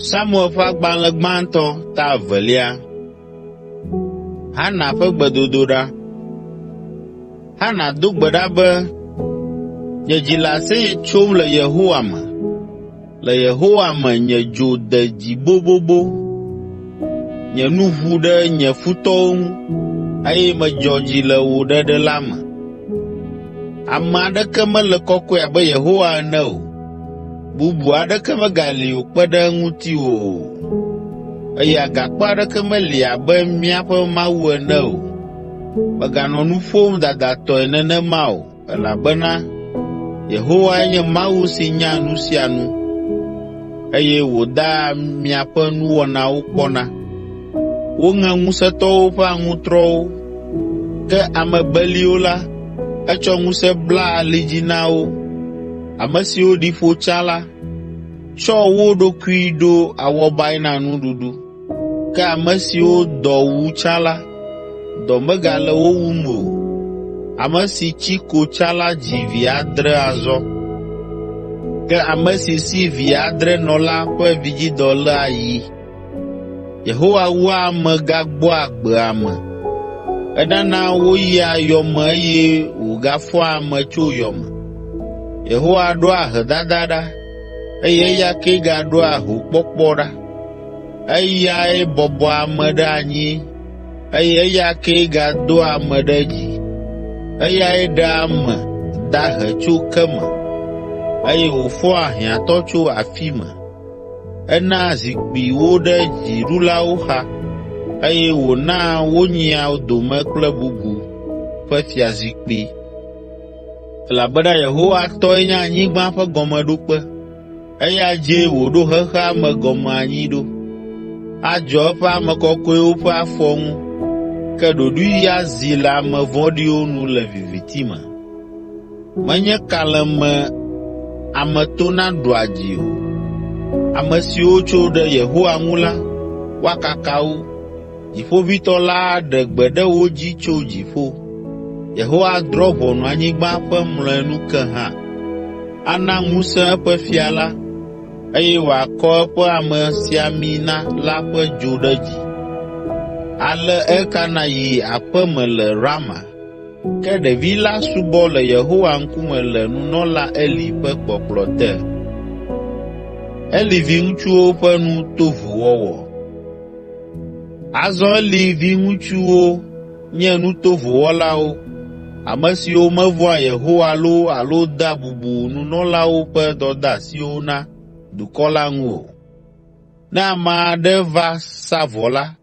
Samuel ƒe agbalẽ gbãtɔ ta evelia. Hana ƒe gbedodoɖa. Hana do gbe ɖa be, “Nye dzi le aseye tsom le Yehowa me. Le Yehowa me nye dzo de dzi bobobo. Nye nu ʋu ɖe nye futɔwo ŋu eye medzɔ dzi le wò ɖeɖe la me. Ame aɖeke mele kɔkɔe abe Yehowa ene o, bubu aɖeke megali o kpe ɖe ŋutiwò o, eye agakpe aɖeke meli abe míaƒe Mawu ene o. Mèganɔ nu ƒom dadatɔe nenema o, elabena Yehowae nye Mawu si nya nu sia nu, eye wòdaa miaƒe nuwɔnawo kpɔna.” Woŋe ŋusẽtɔwo ƒe aŋutrɔwo, ke ame beliwo la, etsɔ ŋusẽ bla ali dzi na wo. Ame siwo ɖi ƒo tsã la, tsɔ wo ɖokui ɖo awɔbae na nuɖuɖu, ke ame siwo dɔ wu tsã la, dɔ megale wo wum o. Ame si tsi ko tsã la dzi vi adre azɔ, ke ame si si vi adre nɔ la ƒe vidzidɔ lé ayi. Yehowa wua ame gagbɔa agbe ame. Enana woyia yɔ me eye wògafɔa ame tso yɔ me. Yehowa ɖoa ahedada ɖa eye eya kee gaɖoa hokpɔkpɔ ɖa. Eyae bɔbɔa ame ɖe anyi eye eya kee gadoa ame ɖe dzi. Eyae ɖea ame dahe tso ke me eye wòfɔa hiãtɔ tso afi me. Enaa zikpui wo ɖe dziɖulawo xa eye wònaa wonyia dome kple bubu ƒe fiazikpui. Elabena Yehowa tɔe nye anyigba ƒe gɔmeɖokpe, eya dzie wòɖo xexea me gɔme anyi ɖo. Adzɔ eƒe ame kɔkɔewo ƒe afɔ ŋu, ke ɖoɖoe azi le ame vɔ̃ɖiwo nu le viviti me. Menye kalẽme ame tona ɖua dzi o. Ame siwo tso ɖe Yehowa ŋu la, woakaka wo. Dziƒoʋĩtɔ la aɖe gbe ɖe wo dzi tso dziƒo. Yehowa adrɔ̃ ʋɔnu anyigba ƒe mlɔenu ke hã. Ana ŋusẽ eƒe fia la, eye wòakɔ eƒe amesiamina la ƒe dzo ɖe dzi. Ale Elkana yi aƒe me le Rama. Ke ɖevi la subɔ le Yehowa ŋkume le nunɔla Eli ƒe kpɔkplɔ te. Eli viŋutsuwo ƒe nu to vo wɔwɔ. Azɔ Eli viŋutsuwo nye nu tovo wɔlawo, ame siwo mevɔ̃a Yehowa loo alo dea bubu nunɔlawo ƒe dɔdeasiwo na dukɔ la ŋu o. Ne ame aɖe va sa vɔ la,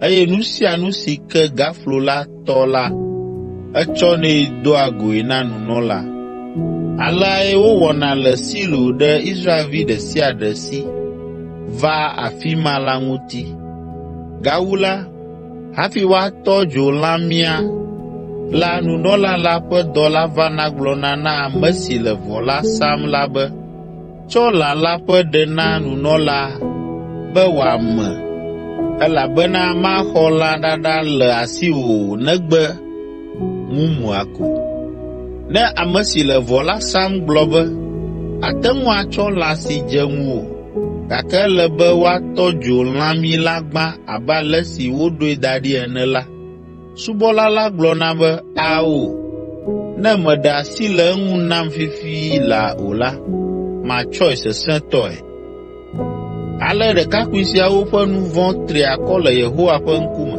eye nu sia nu si ke gaflo la tɔ la, etsɔnɛ doa goe na nunɔla. Aleae wowɔna le Silo ɖe Israelvi ɖe sia ɖe si vaa afi ma la ŋuti. Gawu la, hafi woatɔ dzo lãmia la nunɔla la ƒe dɔla vana gblɔna na ame si le vɔ la sam la be, Tsɔ lã la ƒe ɖe na nunɔlaa be wòame, elabena maxɔ lã ɖaɖa le asiwò o negbe mumua ko. Ne ame si le vɔ la sam gblɔ be, “Àte ŋu atsɔ lã si dze ŋuwò, gake ele be woatɔ dzo lãmi la gbã abe ale si woɖoe da ɖi ene” la, subɔla la gblɔna be, ‘Ao, ne mèɖe asi le eŋu nam fifi laa o la, matsɔe sesẽtɔe.’ Ale ɖekakpui siawo ƒe nu vɔ̃ tri akɔ le Yehowa ƒe ŋkume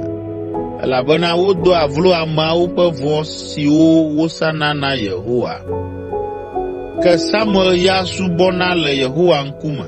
elabena wodoa vlo ameawo ƒe vɔ̃ siwo wosana na Yehowa. Ke Samuel ya subɔna le Yehowa ŋkume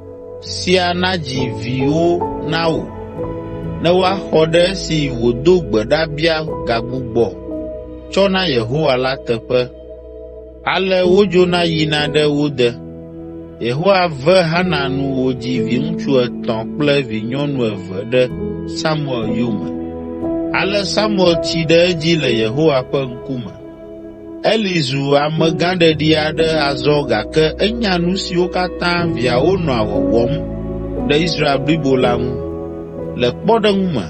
sia nadzi viwo na wò ne woaxɔ ɖe esi wòdo gbe ɖa bia gagbugbɔ tsɔ na Yehowa la teƒe.” Ale wodzona yina ɖe wo de. Yehowa ve Xana nu wòdzi viŋutsu etɔ̃ kple vinyɔnu eve ɖe Samuel yome. Ale Samuel tsi ɖe edzi le Yehowa ƒe ŋkume. Eli zu amegãɖeɖi aɖe azɔ gake enya nu siwo katã viawo nɔa wɔwɔm ɖe Israel blibo la ŋu. Le kpɔɖeŋu me,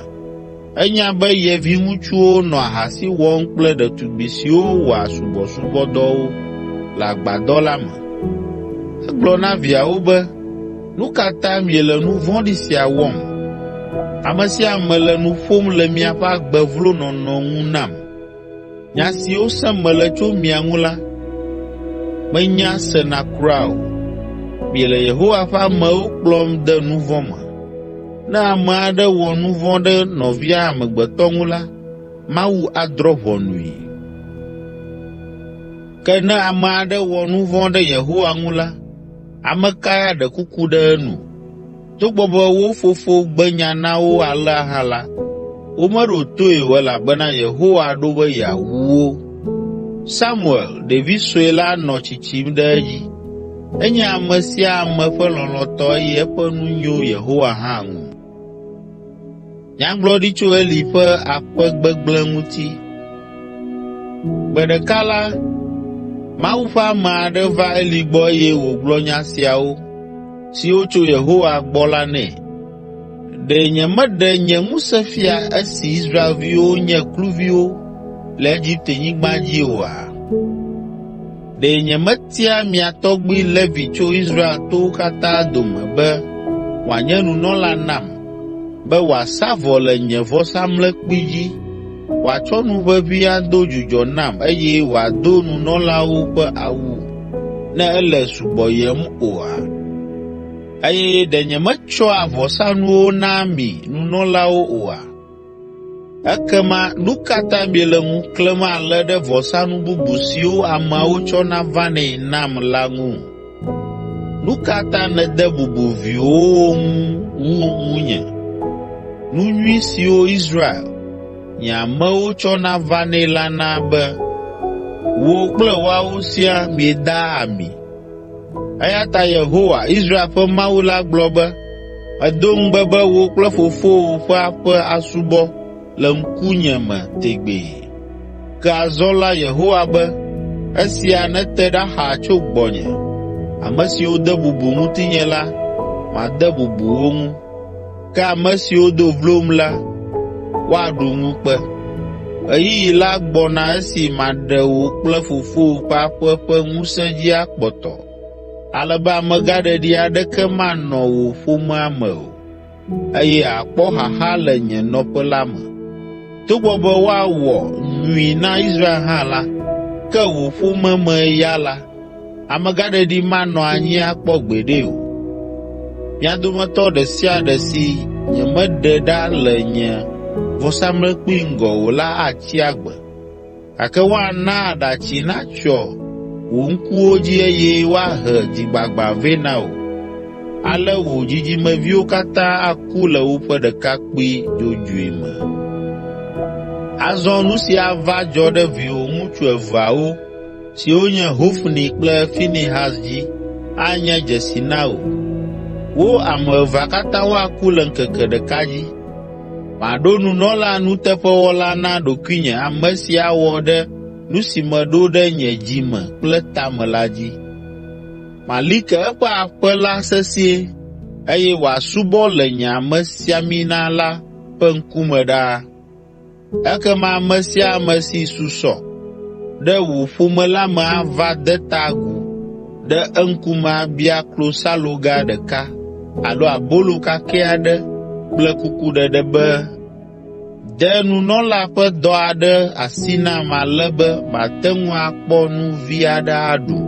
enya be ye viŋutsuwo nɔ ahasi wɔm kple ɖetugbi siwo wɔa subɔsubɔdɔwo le agbadɔ la me. Egblɔ na viawo be, “Nu ka ta miele nu vɔ̃ɖi sia wɔm? Ame sia ame le nu ƒom le miaƒe agbe vlo nɔnɔ ŋu nam.” Nya siwo sem mele tso mia ŋu la, menya sena kura o. Miele Yehowa ƒe amewo kplɔm de nu vɔ̃ me. Ne ame aɖe wɔ nu vɔ̃ ɖe nɔvia amegbetɔ ŋu la, Mawu adrɔ̃ ʋɔnui. Ke ne ame aɖe wɔ nu vɔ̃ ɖe Yehowa ŋu la, ame kae aɖe kuku ɖe enu?” Togbɔ be wo fofo gbe nya na wo alea hã la, womeɖo toe o elabena Yehowa ɖo be yeawu wo. Samuel, ɖevi sue la nɔ tsitsim ɖe edzi. Enye ame sia ame ƒe lɔlɔ̃tɔ eye eƒe nu nyo Yehowa hã ŋu. Nyagblɔɖi tso Eli ƒe aƒe gbegblẽ ŋuti. Gbe ɖeka la, Mawu ƒe ame aɖe va Eli gbɔ eye wògblɔ nya siawo, siwo tso Yehowa gbɔ la nɛ, “Ɖe nyemeɖe nye ŋusẽ fia esi Israelviwo nye kluviwo le Egiptenyigba dzi oa?” Ɖe nyemetia mia tɔgbi Levi tso Israel towo katã dome be wòanye nunɔla nam be wòasa vɔ le nye vɔsamlekpui dzi, wòatsɔ nu ʋeʋĩ ado dzudzɔ nam eye wòado nunɔlawo ƒe awu ne ele subɔyem oa? Eye ɖe nyemetsɔa vɔsanuwo naa mi nunɔlawo oa?’ Ekema nu ka ta miele ŋu klẽm ale ɖe vɔsanu bubu siwo ameawo tsɔna vanɛ nam la ŋu? Nu ka ta nède bubu viwòwo ŋu wu ŋunye, nu nyui siwo Israel, nye amewo tsɔna vanɛ la na be wò kple woawo siaa miedaa ami? Eya ta Yehowa, Israel ƒe Mawu la gblɔ be, ‘Medo ŋugbe be wò kple fofowò ƒe aƒe asubɔ le ŋkunye me tegbee.’ Ke azɔ la Yehowa be, ‘Esia nete ɖa xaa tso gbɔnye. Ame siwo de bubu ŋutinye la, made bubu wo ŋu.’ ” Ke ame siwo do vlom la, woaɖu ŋukpe. Ɣeyiɣi la gbɔna esi maɖe wò kple fofowò ƒe aƒe ƒe ŋusẽ dzi akpɔtɔ, ale be amegãɖeɖi aɖeke manɔ wò ƒomea me o, eye àkpɔ xaxa le nye nɔƒe la me. Togbɔ be woawɔ nyui na Israel hã la, ke wò ƒome mee ya la, amegãɖeɖi manɔ anyi akpɔ gbeɖe o. Mia dometɔ ɖe sia ɖe si nyemeɖe ɖa le nye vɔsamlekpui ŋgɔ o la atsi agbe. Gake woana aɖatsi natsyɔ wò ŋkuwo dzi eye woahe dzigbagbã vɛ na wò. Ale wò dzidzimeviwo katã aku le woƒe ɖekakpui dzodzoe me.” Azɔ nu si ava dzɔ ɖe viwò ŋutsu eveawo, siwo nye Hofni kple Finehas dzi anye dzesi na wò. Wo ame evea katã woaku le ŋkeke ɖeka dzi. Maɖo nunɔla nuteƒewɔla na ɖokuinye ame si awɔ ɖe nu si meɖo ɖe nye dzi me kple tame la dzi. Mali ke eƒe aƒe la sesĩe eye wòasubɔ le nye amesiamina la ƒe ŋkume ɖaa.” Ekema ame sia ame si susɔ ɖe wò ƒome la me ava de ta agu ɖe eŋkume abia klosaloga ɖeka alo abolo kakɛ aɖe kple kukuɖeɖe be, ‘De nunɔla ƒe dɔ aɖe asi nam ale be mate ŋu akpɔ nu vi aɖe aɖu.’ ”